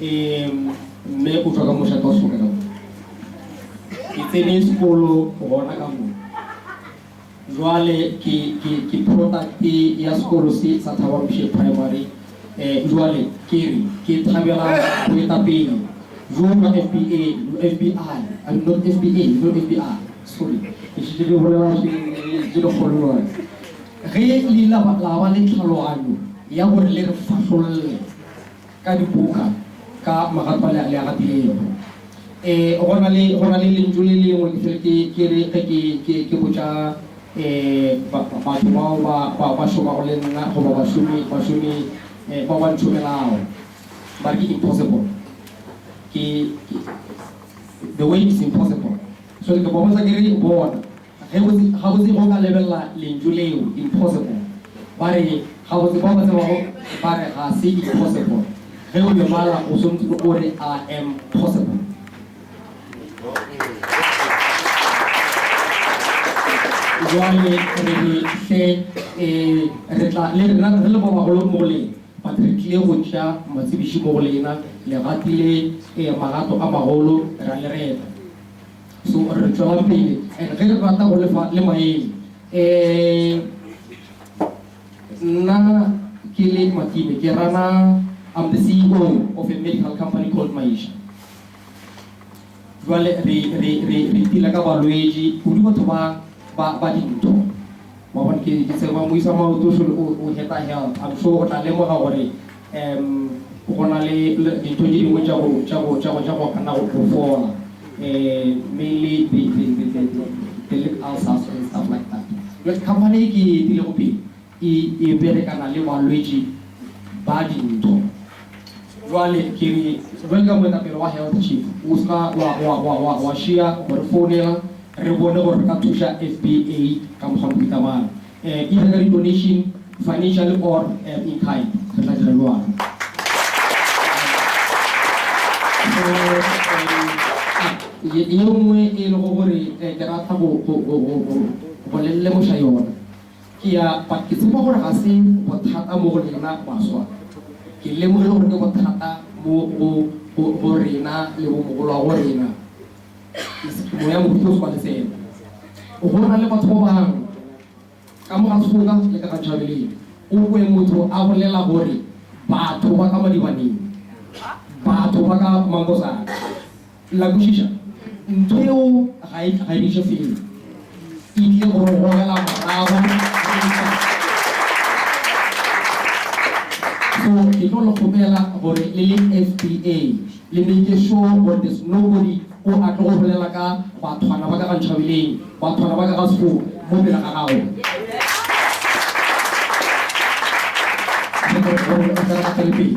Ee, mme o tšwa ka mošate wa sona ka mo. Ke tsene sekolo gona ka mo. Bjale ke, ke, ke product ya sekolo se sa Thabamoshe Primary. Eh, bjale ke re, ke thabela boetapele bjo bja FBA, FBI, I mean not FBA, no FBI, sorry. Ke šetše ke bolela tše, tše dikgolo bjale. Ge le ile la ba, la ba le tlhaloganyo ya gore le re fahlolle. ka dibuka ka magato le a gatilego. Ee, go na le, go na le lentšu le lengwe ke fele ke, ke re ge ke, ke, ke botša, ee, ba, batho bao ba, ba, ba šomago le nna goba bašomi, bašomi, ee, bao ba ntšhomelago, ba re ke impossible. Ke, ke, the way is impossible. So ke ba botša ke re, Bona. Gabotse, gabotse ge o ka lebelela lentšu leo, impossible. Ba re, gabotse, bao ba tsebago ba re, Ga se impossible. Ge o e bala, o swanetše o re, I am possible. Bjale re be hle, e, re tla, le rena re le ba bagolo mo go lena, but re tlile go tša matsebiši mo go lena, le gatile, e, magato a magolo, ra le reta. So re tšwela pele and ge re rata go lefa le maele. Um Nna ke le Makime ke rana I'm the CEO of a medical company called Maisha. Jwale re re re re dealer ka balwetši kudu batho ba ba ba dintho. Wa bona ke ke tseba moisa maoto o o heta health. I'm sure o tla lemoga gore Umm, go na le dintho tše dingwe tša go, tša go, tša go, tša go gana go phofola, um, mainly the, the, the, the, the, the lip ulcers and stuff like that. Jwale company e ke e epilego pele e, e berekana le balwetši ba dintho. Jwale ke re, jwale ka moetapele wa Health Chief, o se ka wa, wa, wa, wa, wa šiya go re founela re bone gore re ka thuša FBA ka mokgwa mohuta mang. Either ka di-donation, financially or in kind, re tla dira bjalo. Go ye nngwe e lego gore ke rata go go le lemoša yona, ke ya but ke tshepa gore ga se bothata mo go lena baswa. Ke lemogile gore ke bothata mo go rena le bo mogolwagorena. Moya o Mokgethwa o tswa Lefelo. O gola le batho ba bangwe, ka mo ga Soka le ka ga Javelin. O kwe motho a bolela gore batho ba ka Madibaneng, batho ba ka Mangosana. La kwešiša? Ntho yeo ga e, ga e bitše felo. E tlile go re gogela morago ge e sa tle. So ke tlo le kgopela gore le le FBA le make sure gore there's nobody o a tlo go bolela ka bathwana ba ka ga Ntšhabeleng, bathwana ba ka ga Sefo mo pele ga gago. Ke tlo go re gore o tle re gatele pele.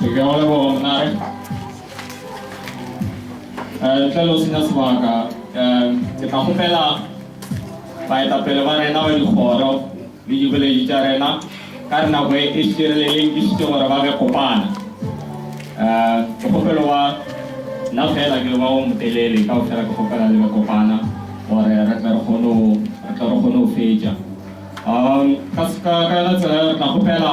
Ke a go leboga monnare. Eh, ntle le go senya sebaka, eh, ke tla kgopela baetapele ba rena ba dikgoro le diboledi tša rena ka re nako e šireleleng ke šitse gore ba be kopana. Eh, ke kgopelo wa nna fela ke ba o motelele ka go fela ke kgopela le be kopana gore re tle re kgone go re tle re kgone go fetša. Um, ka se- ka ka yona tsela eo re tla kgopela